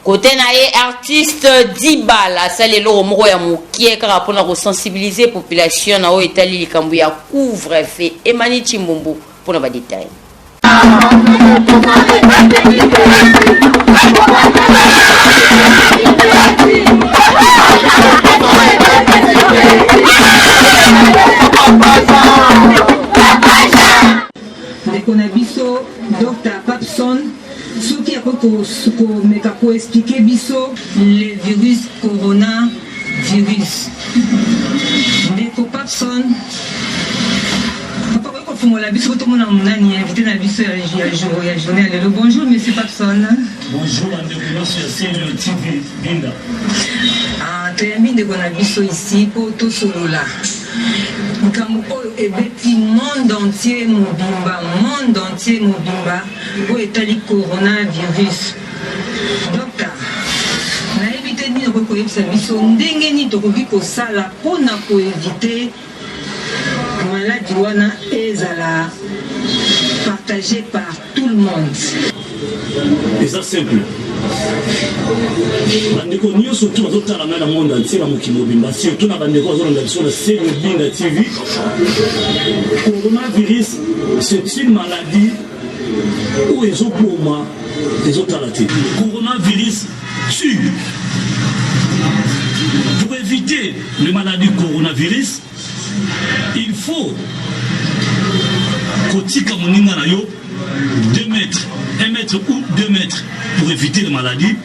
kote na ye artiste dibal asali eloko moko ya mokie kaka mpona kosensibilize population na oyo etali likambo ya couvre fe emani cimbumbu mpona badetail Soki akoki komeka ko expliquer biso le virus corona virus. Ndeko Papson, papa koki kofungola biso tomona nani invité na biso ya jour ya journée ya lelo. Bonjour monsieur Papson. Bonjour ndeko nyonso ya Celio TV Binda. Ah, toyambi ndeko na biso ici mpo tosolola likambo oyo ebeti monde entier mobimba monde entier mobimba Oyo etali corona virus docta nayebi te nini okoki koyebisa biso ndenge nini tokoki kosala mpo na koevite maladi wana ezala partage par tout le monde eza simple bandeko nyonso tu bazotala ngai na monde antie na mokili mobimba surtout na bandeko bazolanda biso na se mobinda tv coronavirus c'est une maladie oyo ezoboma ezotala te coronavirus tue pour éviter le maladie coronavirus il faut kotika moninga na yo 2 mètres 1 mètre ou 2 mètres pour éviter le maladie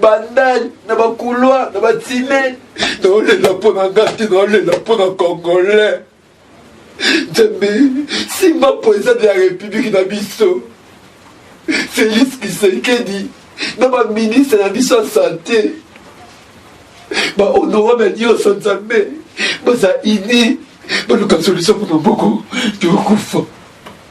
bandal na bacouloir na batime naolela mpo na nga te naolela mpo na congolais nzambe simba mpenza de la république na biso félix kisekedi na baministre na biso ya sante bahonorable nyonso nzambe baza ini baluka solution mpo na moko tokokufa